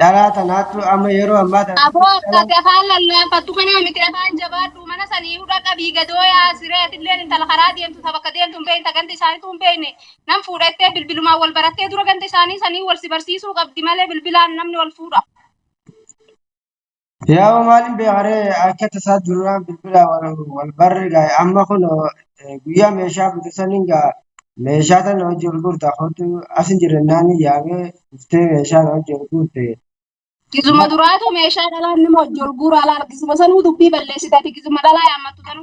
Dhalaa tanaatu amma yeroo ammaa tana Aboo akka gafaan lallaafattu kanaa miti afaan jabaadhu mana sanii hudha qabii gadoo yaa siree atilleen intala karaa deemtu ta bakka deemtu hin beekta ganda isaaniitu hin beekne nan fuudhattee bilbilumaan wal barattee dura ganda isaanii sanii wal si barsiisuu qabdi malee bilbilaan namni wal fuudha. Yaa hoo maaliin beekaree akka tasaa duraan bilbila wal barre gaa'e amma kun guyyaa meeshaa bute saniin gaa meeshaa tana hojii wal gurta kootu asin jirennaan yaamee dhuftee meeshaa na hojii wal gurte. Gizuma duraatu meeshaa dhalaan nama hojii wal guura alaa argisuma sanuu dubbii balleessitaati gizuma dhalaa yaammattu tanu.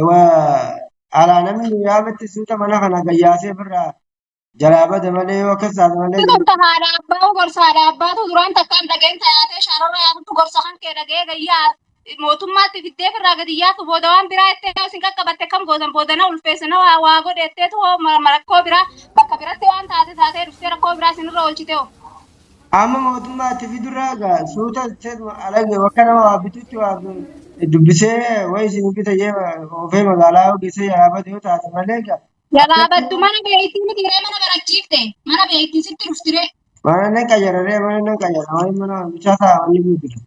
Ewa alaa namni nu yaametti suuta mana kana gayyaasee birraa jalaa bada malee yoo akkas taate malee Kun akka haadha abbaa gorsa haadha abbaatu duraan takkaan dhageen tayaatee shaararra yaatutu gorsa kan kee dhagee gayyaa mootummaatti fiddee firraa gadi yaatu booda waan biraa itti yoo isin qaqqabatte kam gootan booda na ulfeesse na waa waa godhe itteetu hoo ma- ma- rakkoo biraa bakka biratti waan taate taatee dhuftee rakkoo biraa isinirra oolchite hoo. Amma mootummaa itti fidurra egaa suuta isteetuma alage bakka nama waa bitutti waa bi- dubbisee wayi isin bita jee oofee magaalaa yoo geessee jalaa bade yoo taate malee egaa Jalaa battu mana beektii miti ree mana barachiifte. Mana beektii sitti dhufti ree. mana nan qayyararee mana nan qayyara wayi mana bichaa ta'a wanni guutu.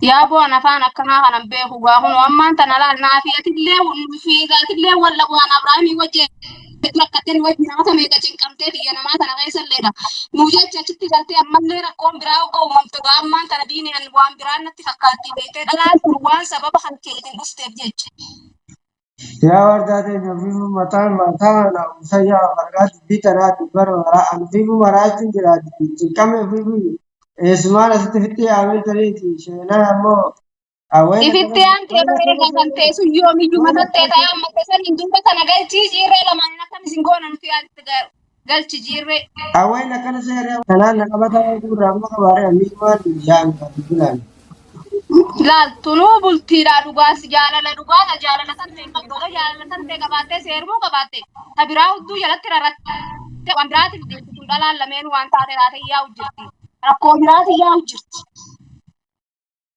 Yaaboo an afaan akkanaa kanan beeku gaa kun ammaan tana laal naafi atillee fi atillee wal dhabu an Abrahaamii wajji hedduu rakkattee nu wajji namoota meeqa cinqamtee biyya namaa tana keessa illee dha. Nu jecha achitti galtee ammallee rakkoon biraa akka uumamtu gaa ammaan tana diini an waan biraa natti fakkaattii beektee dhalaan kun waan sababa kan keetiin dhufteef jecha. Yaa wardaa teenya ufiifuu mataan maataa manaa buusa yaa of argaa dubbii tanaa dubbara maraa an ufiifuu maraachuun jira dubbiin cinqame ufiifuu eessumaan asitti ofitti yaamee tarii itti sheenaa ammoo awween If itti akkana aantee wayna baree akkana gafan ta'e sun yoomiyyuu wayna matattee akkana ta'e amma keessan hin duuba kana galchii ciirree lamaan akkan isin goona nuti yaadatti garu. galchi jiirree. Aween akkana seeree kanaan na qabataa waan gurraa amma qabaaree ammi waan yaami qabu bilaan. Laal tunuu bultiidhaa dhugaas jaalala dhugaadha jaalala tantee hin qabdu odoo jaalala tantee qabaattee seerumuu qabaatte ta biraa hudduu jalatti rarratte waan biraatiif deemti tun dhalaan lameenuu waan taate taate yaa'u jirti rakkoo biraati yaa'u jirti.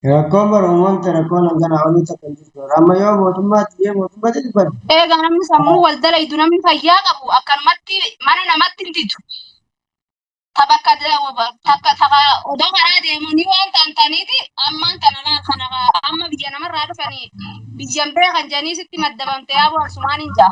Rakkoon bara uumamte rakkoon hanganaa olii takka hin jirtu. Amma yoo mootummaatti jee mootummaatti dubbadde. Eega namni sammuu wal dalaydu namni fayyaa qabu akkanumatti mana namatti hin didu. Ta bakka takka takka odoo karaa deemanii waan ta'an ta'aniiti ammaan kana laal kana amma biyya namarraa dhufanii biyyan beekan jedhanii sitti maddabamte yaaboo harsumaan hin ja'a.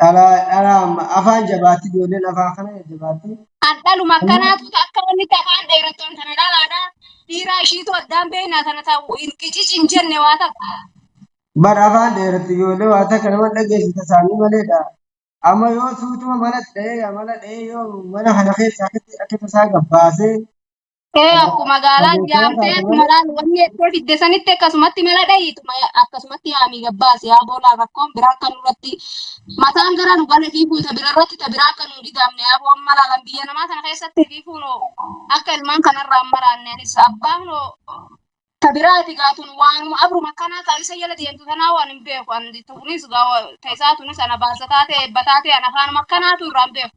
Dhalaa dhalaa amma afaan jabaatti ijoolleen afaan kana jabaatti. Kan dhaluma akkanaatu akka wanni itti afaan dheerattoon kana dhalaadha. Dhiiraa ishiitu addaan beekna kana ta'u hin qicici hin jenne waa takka. Bar afaan dheeratti ijoollee waa takka nama dhageessisa isaanii maleedha. Amma yoo suutuma mana dha'ee amala dha'ee yoo mana kana keessaa akkatti akka tasaa gabbaasee Ee akkuma gaalaa jaamtee akkuma laal wanni jettee fidde sanitti akkasumatti mala dhayiituma akkasumatti yaamii gabbaasi yaa boolaa rakkoon biraa akka nurratti mataan gara nu gala fiiguu ta bira irratti ta biraa akka nu hin gidaamne yaa boon malaalan biyya namaa kana keessatti fiiguun akka ilmaan kanarraa hin maraanne anis abbaan hoo ta biraati gaatun waanuma abruma akkanaa kaa isa jala deemtu tanaa waan hin beeku an tunis gaa ta isaa tunis ana baasa taate eebba taate an afaanuma akkanaatu irraa hin beeku.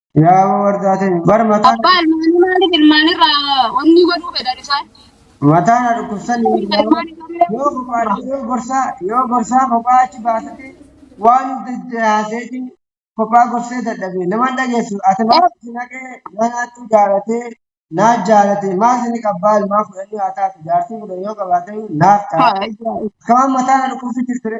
Yaa wardaa ta'e bar mataan Abbaa ilmaanii maaliif ilmaanirraa onnii godhuu fedhan isaan? mataan na dhukkubsanii Ilma ilmaan ijoollee yoo kophaa yoo gorsaa yoo gorsaa kophaa achi baasate waan haaseeti kophaa gorsee dadhabee nama hin dhageessu ati maal itti naqee na naattuu jaalatee naa jaalate maal sini qabbaa ilmaa fudhanii haa taatu jaartii fudhan yoo qabaate naaf ta'a. Haa, ijaa- Kamaan mataa na dhukkubsi jirtire.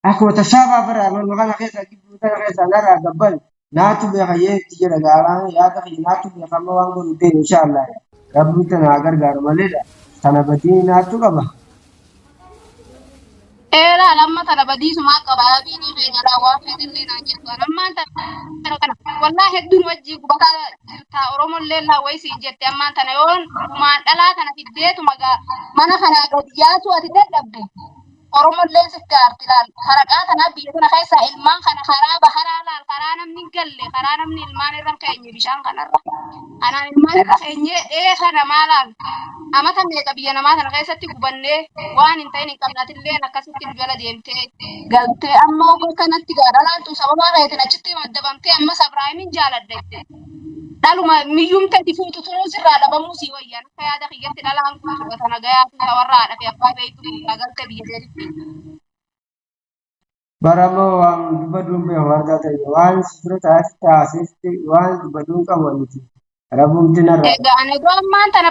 Akkuma tasaa baafara amanuma kana keessaa gidduu kana keessaa narraa gabban naatu beeka yeetti jedha gaaraan yaada kiyya naatu beeka amma waan godhu deemu inshaallah rabbi tana haa gargaaru maleedha tana badii naatu qaba. Eeraan amma tana badiisumaa qaba abiinii keenya irraa waan fedhillee naan jettu an ammaan tana kana wallaa hedduun wajjii gubataa jirtaa oromollee laa wayii siin jette ammaan tana yoon gumaan dhalaa kana fiddeetuma gaa mana kanaa gad yaasuu ati dadhabde Oromolleen sif gaarti laal haraqaa tanaa biyya tana keessaa ilmaan kana karaa baharaa laal karaa namni hin galle karaa namni ilmaan irra hin keenye bishaan kanarra kanaan ilmaan irra keenyee ee kana maa laal amata meeqa biyya namaa tana keessatti gubannee waan hin ta'in hin qabne atilleen akkasitti nu jala deemtee galtee amma ogo kanatti gaadha laaltu sababaa keetiin achitti maddabamtee ammas Abraahimin jaaladhe dhaluma miyyumte itti fuutu turuun sirraa dhabamuu sii wayya akka yaada kiyyatti dhalaan kun tuqata nagayaa fi tawarra haadha fi abbaa beeytu biyyaa galte biyya deebitti. Bara moo waan dubaduun beeku argaa ta'e waan si bira taa'etti taasifti waan dubaduun qabu aniti rabumti narraa. Egaa anagoo ammaan tana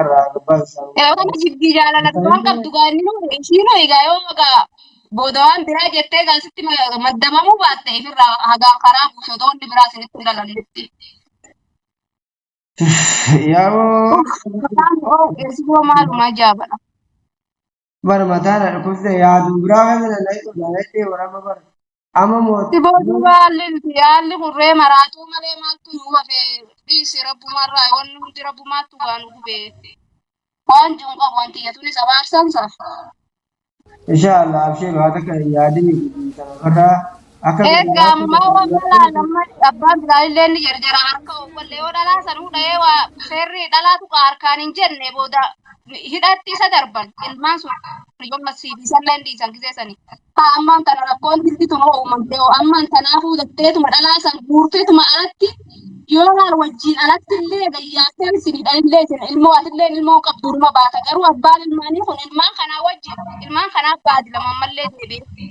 Eewwama jiddii jaalala waan qabdu gaa inni nuu ishiinu egaa yoo egaa booda waan biraa jettee egaa sitti ma- maddabamuu baatte ifirraa hagaan karaa buuse otoo inni biraa sinitti hin dhalannetti. Yaa'oo Afaan Oromoo keessumoo maaluma ajaa'ibadha. bara mataa na dhukkubse yaadu biraa kana na dhaqu na dhaqee warama bara amma mooti Siboo duuba haalli nuti haalli hurree maraatuu malee maaltu nu hafe dhiisi rabbumarraa wanni hundi rabbumaattu waa nu gube waan jiru qabu wanti jetuunis abaarsansa. insha Allah abshiru haa takka yaadini guddin kana barraa Akka Egaa gargaarsa ammaa tokko waan irratti malaan amma abbaan biraa illee ni jarjara harka obbolle yoo dhalaa sanuu dha'ee waa seerri dhalaa tuqa harkaan hin jenne booda hidhaatti isa darban ilmaan sun yoo masii dhiisan leen dhiisan gisee sanii. Haa ammaan kana rakkoon jirtituma uumamte hoo ammaan kanaafuu datteetuma dhalaa san guurteetuma alatti yoo laal wajjin alatti illee gayyaatteen isin hidhan illee isin ilmoo ati illee ilmoo qabduuruma baata garuu abbaan ilmaanii kun ilmaan kanaa wajjin ilmaan kanaa baadi lama ammallee deebi'ee.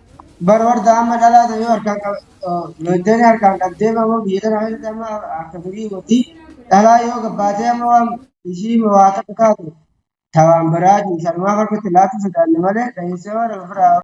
Bar warda amma dhalaa ta'e yoo harkaan lolteenii harkaan qabdee bamoo biyya tana keessatti amma akka durii gotti dhalaa yoo gabbaatee amma waan ishii waa takka taatu tawaan biraa jiru sanumaaf harkatti laatu sodaanne malee dhahinsee waan ofirraa